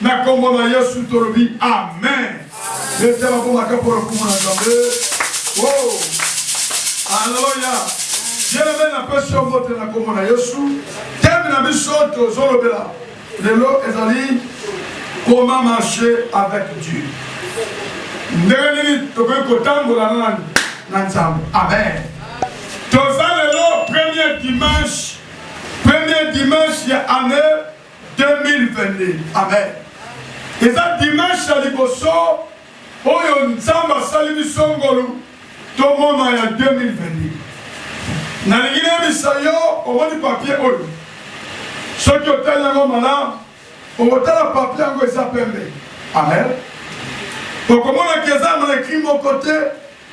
na kombo na yesu tolobi amen etala komaka mpo na komona nzambe oh. aleluya yeleme napesi yo mbote na kombo na yesu teme na biso tozolobela lelo ezali comment marcher avec dieu ndenge nini tokoki kotambola na nani na nzambe amen toza lelo premier dimanche premier dimanche ya année 2022 amen eza dimanche ya liboso Oyo Nzambe asali biso ngolu tomona ya 2022. Nalingi nayebisa yo, omoni papier oyo, soki otali yango malamu, okotala papier yango eza pembe. Amen. Okomona ke eza na ekri moko te,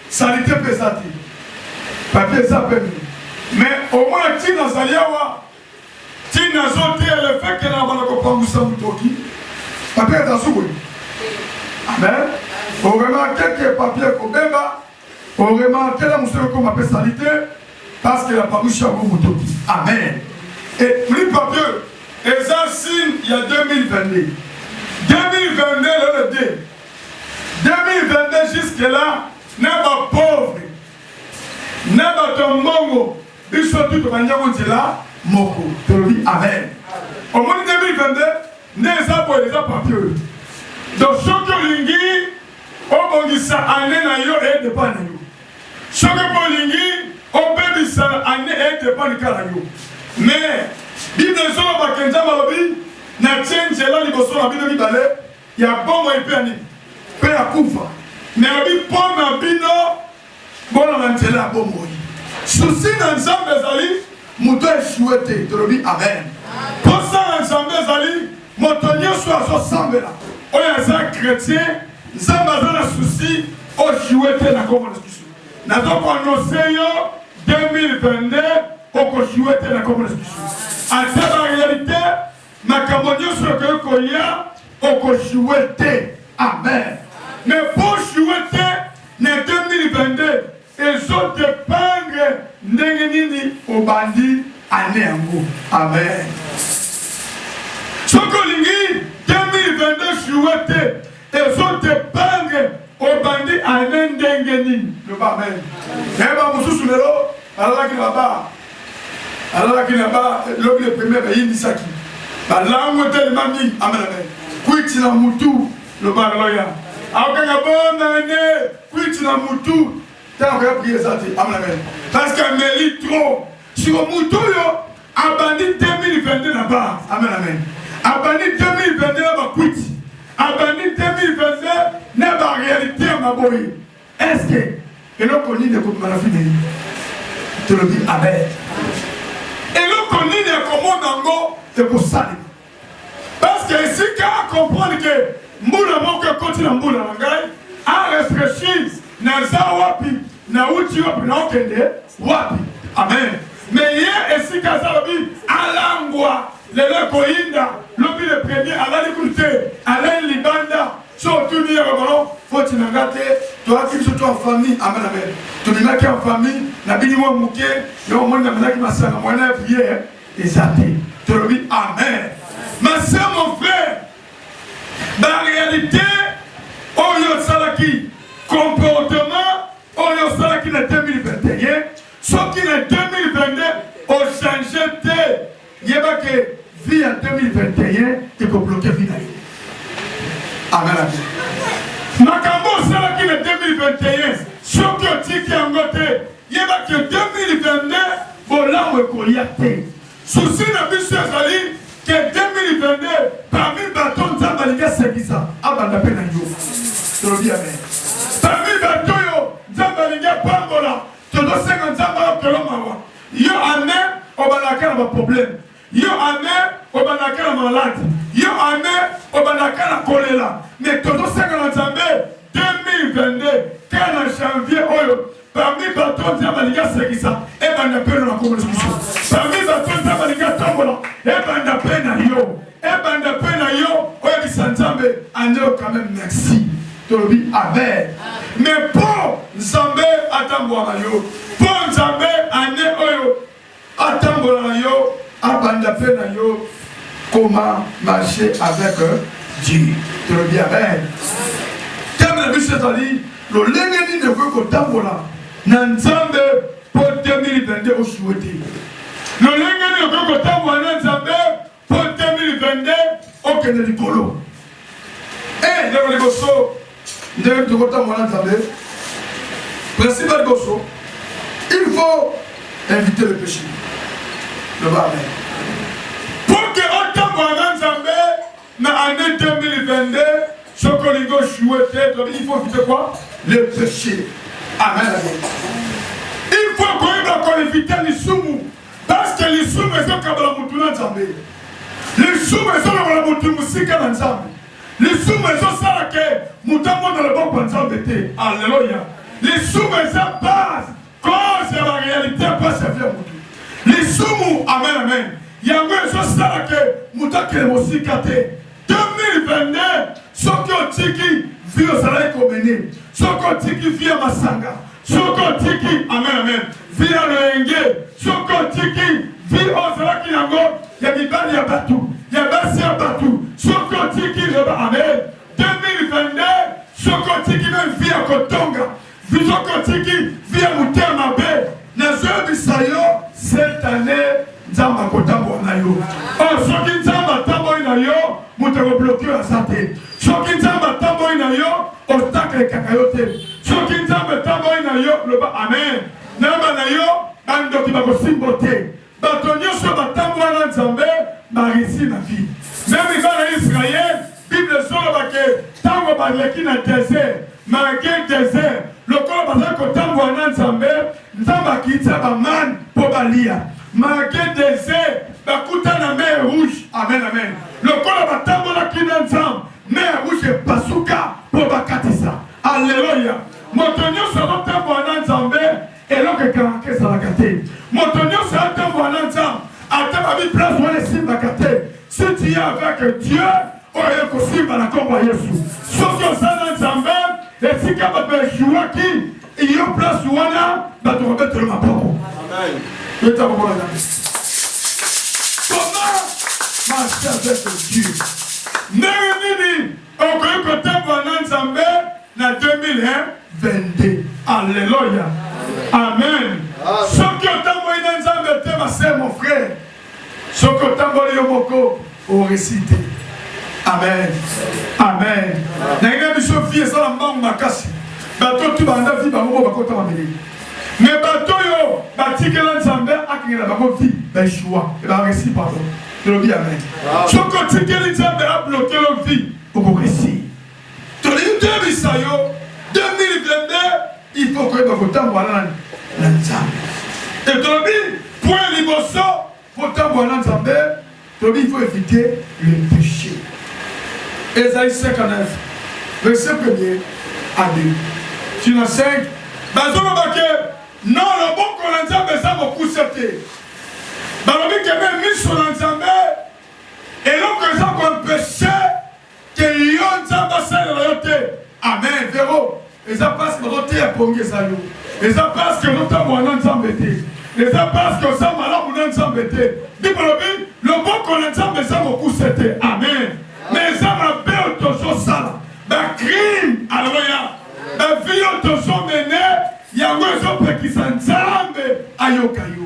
salite mpe eza te. Papier eza pembe. Mais omona ntina azali awa, Tina zo te le fait que na bana ko pangusa mutoki. Papier eza sukuli. Amen. Au remarquer que papier ko beba. Au remarquer la musolo ko mapesa salite parce que la pangusa ko mutoki. Amen. Et plus papier eza signe ya 2022. 2022 le 2. 2022 jusque là na ba pauvre na bato ya mbongo Biso tout tobandi yango nzela moko tolobi amen. Omoni 2022 nde eza boye eza papier oyo. Donc soki olingi obongisa année na yo e dépend na yo. Soki mpe olingi obebisa année e dépend kaka na yo. Mais Bible ezoloba ke Nzambe alobi natie nzela liboso na bino mibale ya bomoi mpe ya nini mpe ya kufa mais alobi mpo na bino Bola na nzela ya bomoi. Susi na Nzambe ezali moto aesue te. Tolobi amen. Mposa na Nzambe ezali moto nyonso azosambela oyo aza chretien. Nzambe aza na susi osue te na kombo na Yesu. Nazokoanonse yo 2022 okosue te na kombo na Yesu. Ata ba realite makambo nyonso ekoki koya okoshiwe te amen me po oshiwe te na 2022 ezo dependre ndenge nini obandi ane yango amen soki olingi 2022 shiwe te Ezo dependre obandi annee ndenge nini. Loba amen. Eh ba mosusu lelo alalaki na ba alalaki na ba lobi le premier bayindisaki balango telema mingi amen amen kwiti na mutu loba loya akokanga bonne année kwiti na mutu ntango ya priye eza te amen amen parce que ameli trop siko mutu oyo abandi 2022 na bar amen amen abandi 2022 na bakwiti abandi 2022 na barealité ya maboyi eske eloko nini ekobima na fideli tolobi amen eloko nini ekomona yango ekosalema Parce que esika a comprendre que mbula moko ekoti na mbula na ngai a refreshir naza wapi nauti wapi naokende wapi amen me ye esika aza lobi alangwa lelo ekoyinda lobi le premier alali kutu te alali libanda so otuni ye babalo foti na nga te toyaki biso to en famille amen amen tobimaki en famille nabini mwa moke yo omoni namelaki masanga mwana ya priere eza te tolobi amen ma sœur mon frère ba réalité oyo osalaki comportement oyo osalaki na 2021 soki na 2022 ochange te yeba ke vie ya 2021 ekobloke vi na yo amen makambo osalaki na 2021 soki otiki yango te Yeba que 2022 bolamu ekoya te. Souci na biso ezali que 2022 parmi bato Nzambe alingi asekisa abanda mpe na yo. Tolobi amen. Parmi bato oyo Nzambe alingi apambola tozosenga Nzambe ayokela mawa. Yo ane obalaka na baproblème Yo ame obanda kala malade, yo ame obanda kala kolela, mais tozo senga na Nzambe 2022 kala na janvier oyo parmi bato Nzambe alingi asekisa ebanda mpe na makomo na biso, parmi bato Nzambe alingi atambola ebanda mpe na yo, ebanda mpe na yo oyebisa Nzambe aneo quand même merci tolobi amen. Mais mpo Nzambe atambwaka yo, mpo Nzambe ane oyo Atambola na yo, abanda pe na yo comment marcher avec euh, Dieu. Très bien. Amen. Thème na biso ezali lolenge nini okoki kotambola na Nzambe mpo 2022 osuwe te. Lolenge nini okoki kotambola na Nzambe Po 2022 okende likolo. Eh, ndeko liboso ndenge tokotambola na Nzambe. Principe liboso, il faut éviter le péché. Le amen. Pour que otambola na Nzambe na année 2022 soki olingi oshue te tobi il faut éviter quoi le péché amen il faut koyeba koevite lisumu Parce que lisumu ezokabala mutu na Nzambe. Lisumu ezolobala mutu musika na Nzambe. Lisumu ezosala ke mutu amona loboko ya Nzambe te. Alleluia. Lisumu eza base cause ya ba realite ya pasi ya vie ya mutu. Lisumu amen amen. Yango ezosala ke mutu akende mosika te. 2022 soki otiki vie ozalaki komene soki otiki vie ya masanga soki otiki amen amen vie ya loyenge soki otiki vie ozalaki yango ya mibali ya bato ya basi ya bato soki otiki loba amen 2022 soki otiki me vie ya kotonga Visoki otiki vie ya motema mabe, nazoyebisa yo cette année nzambe akotambola na yo oyo oh, soki nzambe atamboli na yo moto ekobloke oyo aza te soki nzambe atamboli na yo obstacle ekaka yo te soki nzambe atamboli na yo loba amen nayeba na yo bandoki bakosimbo te Bato nyoso batambola na Nzambe ba reussir na vie. Meme bana Israël, Bible ezoloba ke tango baleki na desert, malgre desert, lokola bazali kotambola na Nzambe, Nzambe akitisa ba man po baliya. Malgre desert, bakuta na mer rouge. Amen, amen. Lokola batambolaki na Nzambe, mer rouge epasuka po bakatisa. Alleluia. Moto nyoso azotambola na Nzambe Eloko ekangaka ezalaka te. Moto nyonso atambola na Nzambe, ata babi place wana esimbaka te. Si tu es avec Dieu, oyo ekosimba na nkombo ya Yesu. Soki oza na Nzambe, esika bato ejuwaki iyo place wana bato kobetela maboko. Beta maboko na Nzambe. Comment marcher avec Dieu? Ndenge nini okoki kotambola na Nzambe na 2001 22 alleluia amen soki otamboli na nzambe te base mon frère soki otamboli yo moko oresi te amen amen naina biso vie ezala mbangu makasi bato tu banda vi bango bo bakota mameli me bato oyo batikela nzambe akengela bango vi baeshua ebaresi pardon elobi amen soki otikeli nzambe ablokelo vi okoresi tolingi toyebisa yo 2022 il faut koyeba kotambola nani na nzambe te tolobi point liboso kotambola na nzambe tolobi il faut éviter le péché ezali 59 verset premier à 2 tina 5 bazoloba ke no loboko na nzambe eza mokuse te balobi kebe miso na nzambe eloko eza koempeshe Ke yo nzambe asalela yo te. Amen vero eza pasi bazoteya pongi eza yo eza pasi ke ozotambola na nzambe te eza pasi ke oza malamu na nzambe te ndikolobi loboko na nzambe eza mokuse te amen me eza mabe oyo tozosala bacrime aleluya bavi oyo tozomene yango ezopekisa nzambe ayoka yo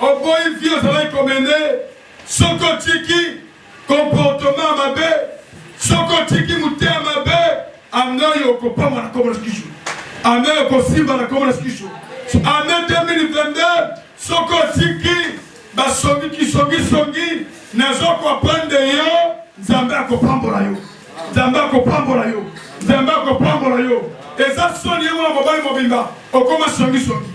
Oboyi vie ozalaki komene soki otiki comportement mabe soki otiki motema mabe amnoi okopamwa na kombo na sikishu ame okosimba na kombo na sikishu ame 2022 soki otiki basongi kisongisongi nazokoprendre yo nzambe akopambola yo nzambe akopambola yo nzambe akopambola yo eza soni ye mwana mobali mobimba okoma songisongi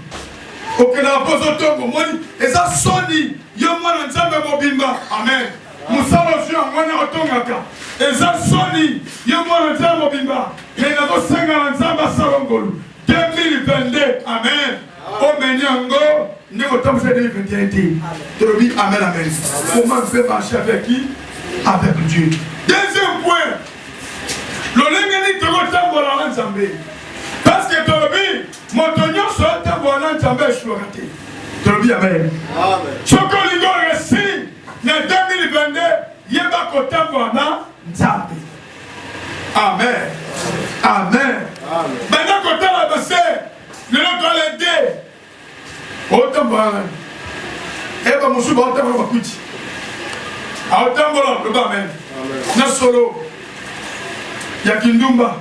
okendaka mpo ozotonga omoni eza soni yo mwana nzambe mobimba amen mosala ozwi yango wana otongaka eza soni yo mwana nzambe mobimba me nazosenga na nzambe asala ngolu 2022 amen omeni yango ndenge otambwisa 2021 te tolobi amen amen comment mpe marche avec qui avec dieu deuxième point lolenge nini tokotambola na nzambe parce que tolobi moto nyonso atambola na nzambe esuaka te tolobi amen soki olingi oresi na 2022 yeba kotambola na nzambe amen amen banda kotala base lelo toala te otambola eba mosusu baotambola bakuti aotambola loba amen na solo ya kindumba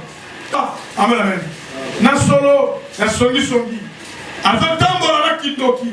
ah, amen amen na solo ya songisongi azotambola na kindoki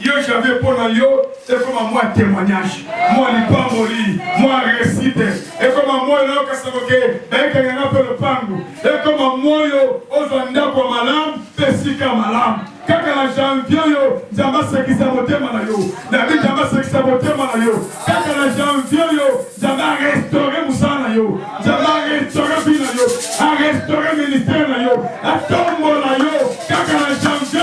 Yo Janvier mpo na yo ekoma mwa temoignage mwa lipamboli mwa resite ekoma moyo na yo kasakoke ekenge na mpe lopango ekoma moyo ozwa ndako ya malamu mpe esika ya malamu kaka na janvier oyo nzambe asekisa motema na yo nabi nzambe asekisa motema na yo kaka na janvier oyo nzambe arestore mosala na yo nzambe arestore bi na yo arestore ministère na yo atombola yo kaka na janvier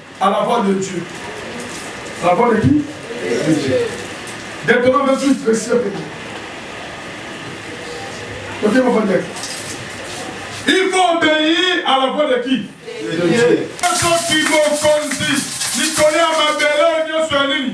À la voix de Dieu. À la voix de qui De Dieu. Maintenant, je suis précieux pays. Ok, mon frère. Il faut obéir à la voix de qui De Dieu. Soki mokonzi likolo ya mabele nyonso ya nini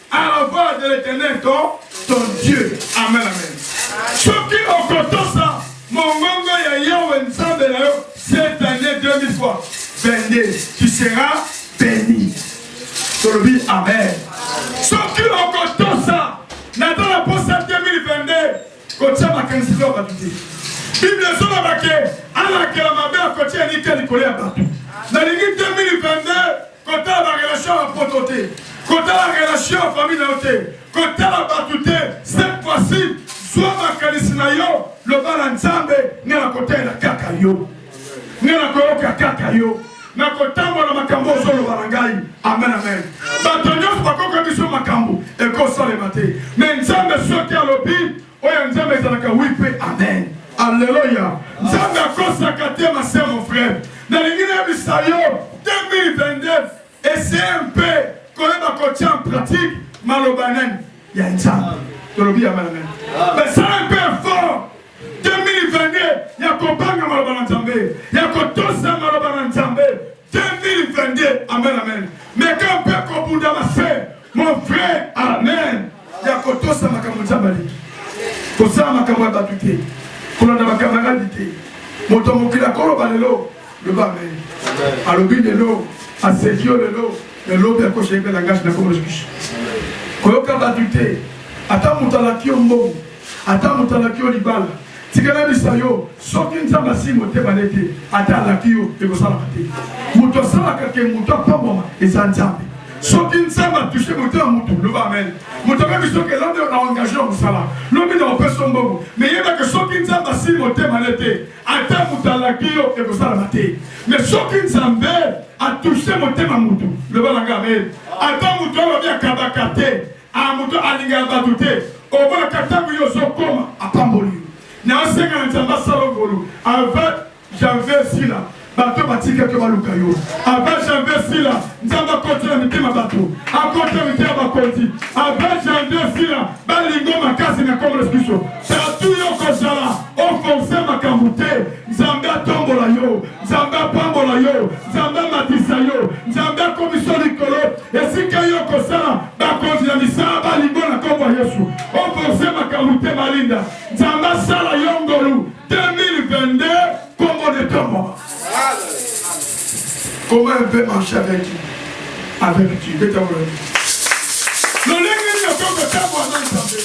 à la voix de l'éternel ton, ton Dieu. Amen, amen. Soki okotosa mongongo ya Yahweh Nzambe na yo cette année 2000 fois 22, tu seras béni. Tolobi amen. Soki okotosa naza na posa 2022 Kotya makanisi to bato te. Biblia ezoloba ke alakela mabe akotya elikya likolo ya bato. Nalingi 2022 kotala ba relation ya poto te, kotala relation ya famille na yo te, kotala bato te. Cette fois-ci zwa makanisi na yo, loba na Nzambe, ngai nakotalela kaka yo, ngai nakoyoka kaka yo. na kotambola makambo ozoloba na ngai amen amen bato nyonso bakoka biso makambo ekosalema te me nzambe soki alobi oyo nzambe ezalaka wi mpe amen alleluya nzambe akosaka te mase mon frère nalingi nayebisa yo 2022 eseye mpe koyeba kotia en pratique maloba nani ya nzambe tolobi amen amen basala mpe effort 2022 ya kobanga maloba na Nzambe, ya kotosa maloba na Nzambe. 2022, amen amen. Meka mpe kobunda na se, mon frère, amen. Ya kotosa makambo Nzambe alingi, kosala makambo ya bato te, kolanda bakamaradi te. Moto mokili akoloba lelo, loba amen. Alobi lelo, aseki yo lelo, elobi akoshenge langage na komolokishi. Koyoka bato te, ata moto alaki yo mbongo Ata moto alaki yo libala tika nayebisa yo soki nzambe asili motema ne te ata alaki yo ekosalaka te moto asalaka ke moto apambwama eza nzambe soki nzambe atushe motema motu loba amen moto akoki soki elombi na engage na mosala lobi na opeso mbongo meyebake soki nzambe asili motema ne te ata moto alaki yo ekosalaka te me soki nzambe atushe motema motu loba na ngai amen ata moto alobi akabaka te a moto alingaka bato te okolaka ntango yo ozokoma apamboli yo nasenga na nzambe asala ngolu ava janvier sila bato batika te baluka yo ava janvier sila nzambe akoti na mitema bato akoti na mitema bakonzi ava janvier sila balingo makasi na kongo na biso tatu yo kozala ofonse makambo te Nzambe atombola yo, Nzambe apambola yo, Nzambe amatisa yo, Nzambe akomisa likolo esika yo kosala bakonzi ya misala balingo na nkombo ya Yesu. Oforse makambo te balinda, Nzambe asala yo ngolu 2022 nkombo netombola. Comment un peu marcher avec Dieu? Avec Dieu, beta mwana. Lolenge nini okoki kotambola na Nzambe?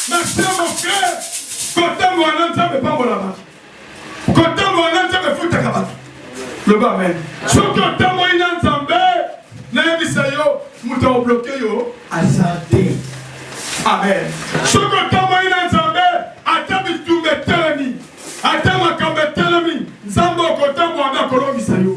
Merci mon frère. kotambola na nzambe epambola bato kotambola na nzambe efutaka bato loba amen soki otamboli na nzambe nayebisa yo moto aobloke yo aza te amen soki otamboli na nzambe ata bitumba etelemi ata makambo etelemi nzambe okotambola nde akolongisa yo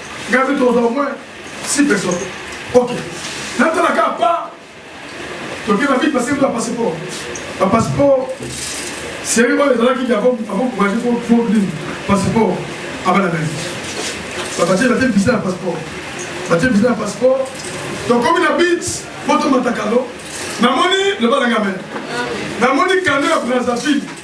Gabi toza au moins 6 personnes. Ok. Natala ka pa toke ba bit passer ba passeport. Ba passeport seri oyo ezalaki ya avant avant courage pour pour dire passeport abana na nzi. Ba batie ba te visa na passeport. Ba te visa na passeport. Tokomi na bit poto matakalo. Namoni le balanga men. Namoni kano ya Brazzaville.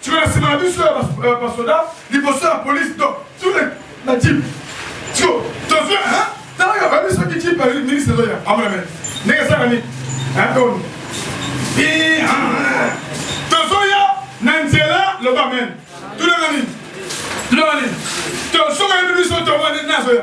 Siko na sima na biso ya euh, basoda liboso ya polisi to tule na jipe siko tozwi talaka bayebi soki jipe minisi ezoya amona mene ndenge esaka nini atoni tozoya na nzela loba mene tulanga nini tulanga nini tosoka yebi biso tomoni nazoya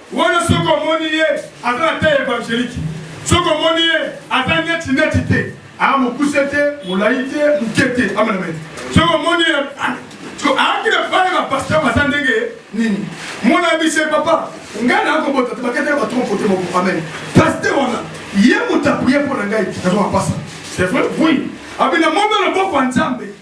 Wana soki omoni ye aza na taille evangelique, soki omoni ye aza neti neti te, aa mokuse te, molayi te, moke te, amanamete. Soki omoni ye aakila bana ba pasteur baza ndenge nini, mwana ya bise papa ngai naa kobota te baketela batron kote moko amen. Pasteur wana ye moto aprie mpo na ngai nazwa mapasa c'est vrai oui abina mono loboko ya Nzambe.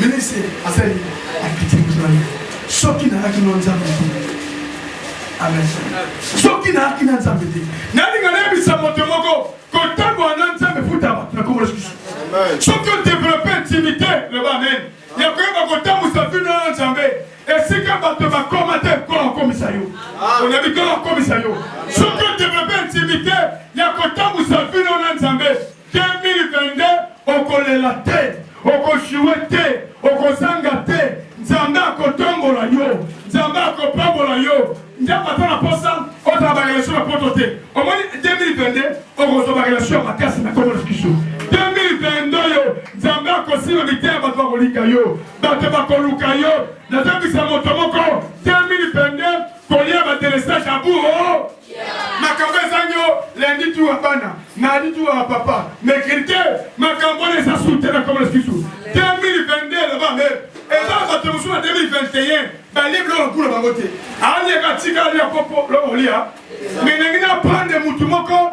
Ministre asali akiti moto na ye soki nalaki no nzambe te amen soki nalaki na nzambe te nalinga nayebisa moto moko kotambola na nzambe futama na kombo lisusu soki odevelope intimité loba amen ya koyeba kotambusa bino na nzambe esika bato bakoma te nkolo akomisa yo onabi nkolo akomisa yo soki odevelope intimité ya kotambusa bino na nzambe 2022 okolela te okoshiwe te okozanga te nzambe akotombola yo nzambe akopambola yo nzambe ata na posa ozala barelation ya poto te omoni 2022 okozwa barelation ya makasi na komona biso 2022 yo nzambe akosima mite ya bato bakolinga yo bato bakoluka yo nazongisa moto moko 2022 kolia batelesage ya buro makambo ezangi yo lundi tour ya bana mardi tour ya papa mercredi te makambo wana eza sute na koma lisusu 2022 loba me eza na bato mosusu na 2021 balibi loko lokula bango te alia katika alia kopo loko olia me nangi na prendre motu moko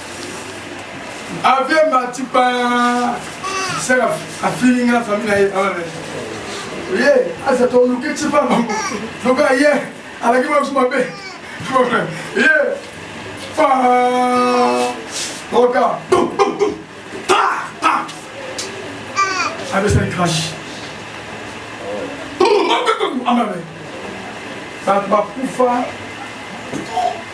Avion mati pa saka afini nga famille na ye awa na ye aza toluki ti pa bango lokola ye alaki bakusu mabe ye pa oka abesani crash amabe bakufa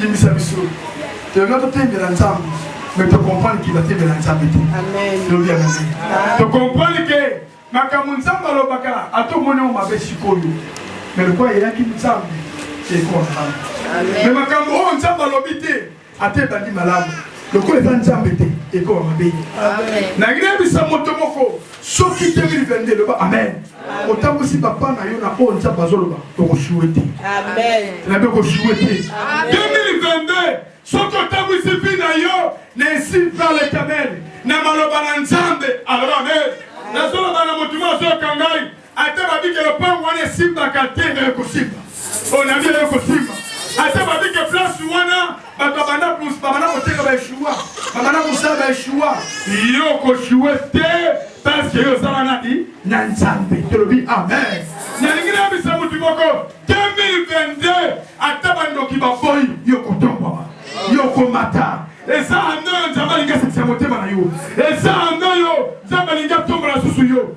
limbisa biso tolinga totembela nzambe mais tocomprendre ke batembela nzambe te lobi ya mabe tocomprendre ke makambo nzambe alobaka ata omoni yango mabe sikoyo mais lokola eyaki nzambe ekoa malamu mais makambo oyo nzambe alobi te ata ebandi malamu lokola eza nzambe te ekoa mabe nayebi nayebisa moto moko soki 2022 eloba amen otambwisi papa na yo na oyo nzambe azoloba okosue te nabe okosue te 2022 soki otambwisi vi na yo na esile par letamel na maloba na nzambe aloba amen nazoloba na motu mo azoyoka ngai ata babike lopango wana esimbaka te nayo kosimba onami nayo kosimba ata babike place wana bato babanda koteka baeshua babanda kosala baeshua yo koshue te parceke yo ozala nani na nzambe tolobi amen nalingi nayebisa motu moko 2022 ata bandoki baboyi yo kotombwama yo komata eza ando yo nzambe alingi asekisa motema na yo eza ando yo nzambe alingi atombola susu yo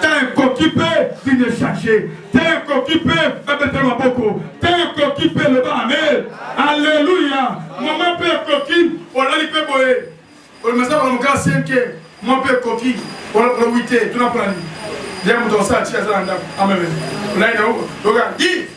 te ekoki mpe signe echange te ekoki mpe babete maboko te ekoki mpe loba amen alleluya mama mpe ekoki olali mpe boye olimasa kola mokala senke mwa mpe ekoki olokola wite tuna mpo na nini ya moto osala ti aza na ndako ameme olai na oka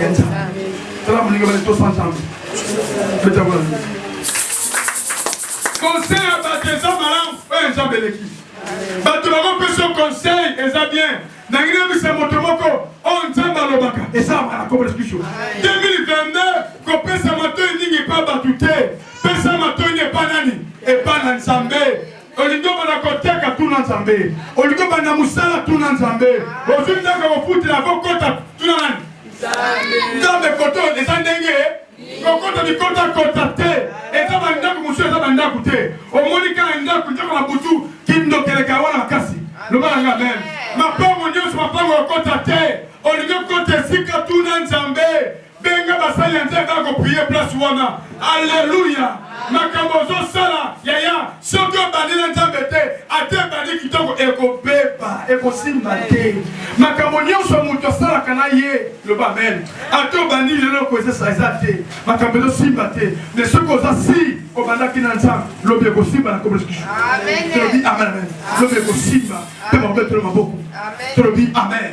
ya nzambe tala moninga bale tosa nzambe betakola conseil ya bato eza malamu oyo eh, nzambe eleki bato bakopesa conseil eza bien nangi nayebisa moto moko oyo oh, nzambe alobaka eza malakobolespisio 2022 kopesa matoi mingi epa bato te pesa matoi nde epa nani epa na nzambe olingi obanda koteka tuna nzambe olingi obanda mosala tuna nzambe ozwi ndenge kofutela kokota tuna nani nzambe koto eza ndenge kokota bikotakota te eza bandako mosusu eza bandako te omoni kaka ndako ndako na butu kindokeleka wana makasi loba nanga meme mapango nyonso mapango okota te olingi okota esika tuna nzambe benga basali ya nzambe baya koprie place wana alleluya makambo ozosala yaya soki obandi na nzambe te ata ebandi kitoko ekobeba ekosimba te makambo nyonso moto asalaka na ye loba amen ata obandi lelo kozesa eza te makambo ezosimba te me soki oza si obandaki na nzambe lobi ekosimba na kobolisikisu tolobi amen amen lobi ekosimba mpe makobe tolo maboko tolobi amen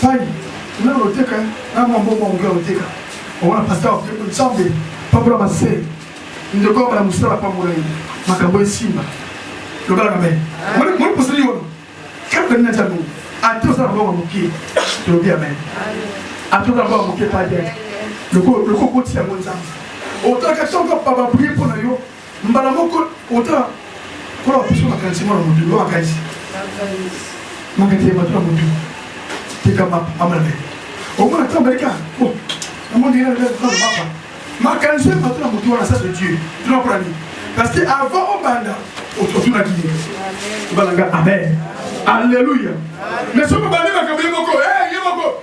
Fali, kuna oteka na mwa mbongo ya moke oteka omona pasta oteko nsambe pambola mase ndeko abala mosala pambola ye makambo esimba lobalaka me moni poseli yono kaka nina nzambe ata osala mbongo moke tolobi amen ata osala mbongo moke padi lokola okotisa yango nzambe otalaka ntango papa brie mpo na yo mbala moko ota kola baposo makanisi mwana motu yo makanisi makanisi ya bato na motu tekama amana omona ntango baleka oh, amondiaa makanisi ya bato na motu wana sa de dieu tuna mpona nini parce que avant obanda otunaki ye balanga amen alleluya mais soki obandi makambo ye moko eh, ye moko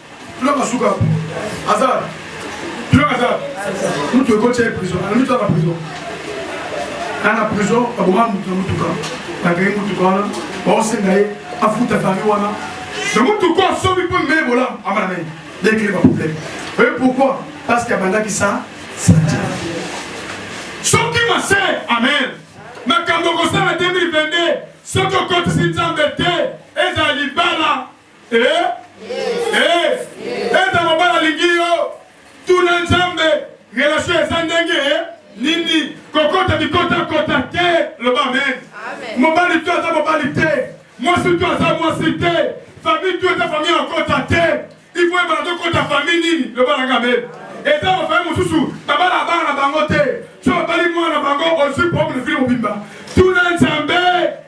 Tulaka asuka hapo. Azara. Tulaka azara. Mtu yuko chai prison. Ana mtu ana prison. Ana prison aboma mtu na mtu kama. Na gari mtu kama. Baose na ye afuta fami wana. Na mtu kwa sobi po mbe bola amana naye. Dès qu'il y a un problème. Et pourquoi Parce qu'il y a banda qui ça. Ça tient. Soki mase. Amen. Makambo kosala 2022. Soki okotisi Nzambe te. Ezali bala. Eh? Eh? Eta mobali alingi yo tuna nzambe relation eza ndenge eh? nini kokota bikotakota te loba amen mobali to aza mobali te mwasi to aza mwasi te famille to eza famille akota te ifo ebala tokota famille nini loba nanga amen eza bafamille mosusu babala abana na bango te so babali mwana na bango ozwi problème fili mobimba tuna nzambe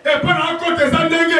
epa na akota eza ndenge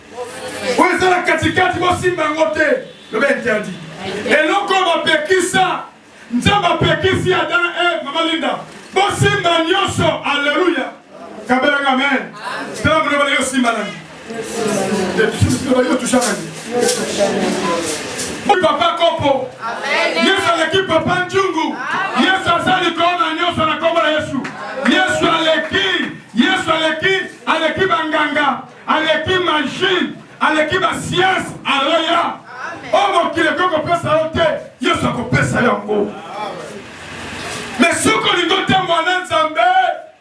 oyo eza na katikati bosimba yango te loba interdit eloko oyo bapekisa nzambe apekisi ata e mama linda bosimba nyonso alleluya kabelanga amen tala mona bana yo simba nani yo tushanani papa kopo yesu aleki papa njungu yesu asali koona nyonso na kombo na yesu yesu aleki yesu aleki aleki banganga aleki machine aleki ba science aloya o oh, mokili ekoki kopesa yo te yesu akopesa yango me soki olingi otambwa na nzambe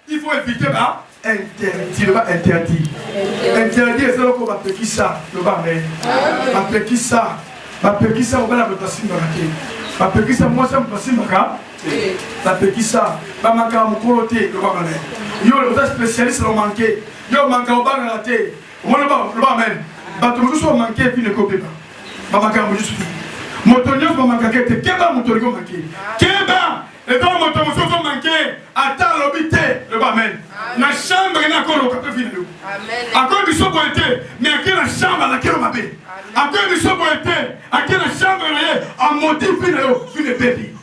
il faut éviter ba interdit loba interdit interdit eza loko bapekisa loba me bapekisa bapekisa mobali ya moto asimbaka te bapekisa mwasi ya moto asimbaka bapekisa bamakaka mokolo te loba me yo oza spécialiste lomanke Yo manka obanga na te. Omoni ba loba amen. Bato mosusu ba manke vie ne ko beba. Ba manka mosusu. Moto nyoso ba manka ke te. Keba moto liko manke. Keba eza moto mosusu manke ata lobi te. Loba amen. Na chambre na ko loka pe vie na yo. Amen. Ako biso boye te. Mais ake na chambre na kelo mabe. Ako biso boye te. Ake na chambre na ye a modifie na yo vie ne bebi.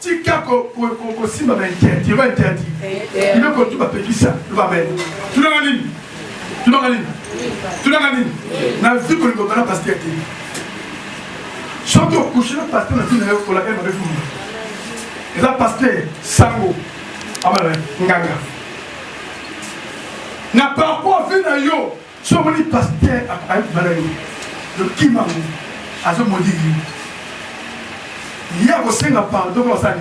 Tika ko ko ko ko simba ba interdit, ba interdit. Ime ko tuba pekisa, tuba mene. Tuna ngani? Tuna ngani? Tuna ngani? Na viko ni kokana pasteur te. Soki okushi na pasteur na vina yo kola ema befu. Eza pasteur sango. Amana nganga. Na parcours vina yo Soki omoni pasteur akoki kobala yo, okima yango, azo maudire yo. Ye akosenga pardon mpo asali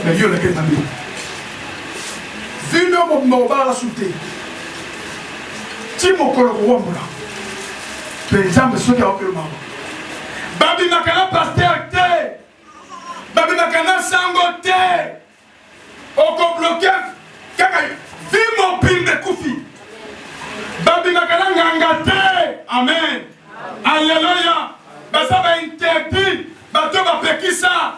mais yo olekeli mabe. Vino mobimba obalaka su te ti mokolo kowambola mpe Nzambe soki aokelo bango babimaka na pasteur te babimaka na sango te oko bloke kaka vie mobimba ekufi babimaka na nganga te amen aleluya baza ba interdit bato bapekisa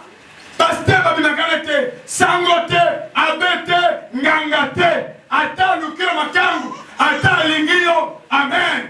paster babimaka na te sango te abe te nganga te ata alukela makangu ata alingi yo amen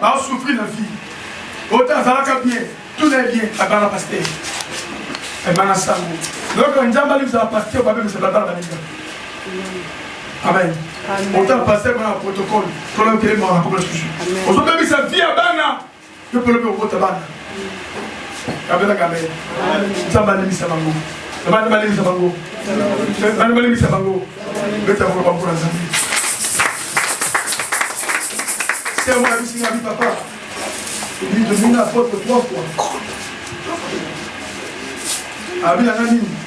Ba souffrir na vie. Ota azalaka bien, tout les bien, abana pasteur. Abana sango. Donc njamba lui za pasteur ba bimisa bala bala ninga. Amen. Ota pasteur bana protocole, kola kele mwana kola sushi. Ozo bimisa vie abana. Yo polo pe okota bana. kabela kabela nzambe alimisa bango bana balimisa bango bana balimisa bango beta bango bango na nzambe sermo na biso ngabi papa ebi tolingi na apotre trois fois abi na nga nini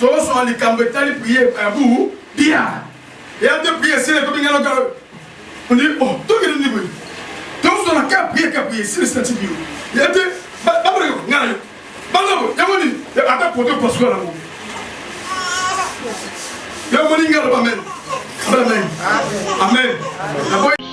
tozwa likambo etali priye ebu bia eya te priye esili ekomi ngana ka ondi o oh, tokende ndi boye tozwa na ka priye ka priye esili sina tibiyo eya te baboleko ngana yo banoko yango nini ata poto pasuka nango yango nini ngana bamene amen amen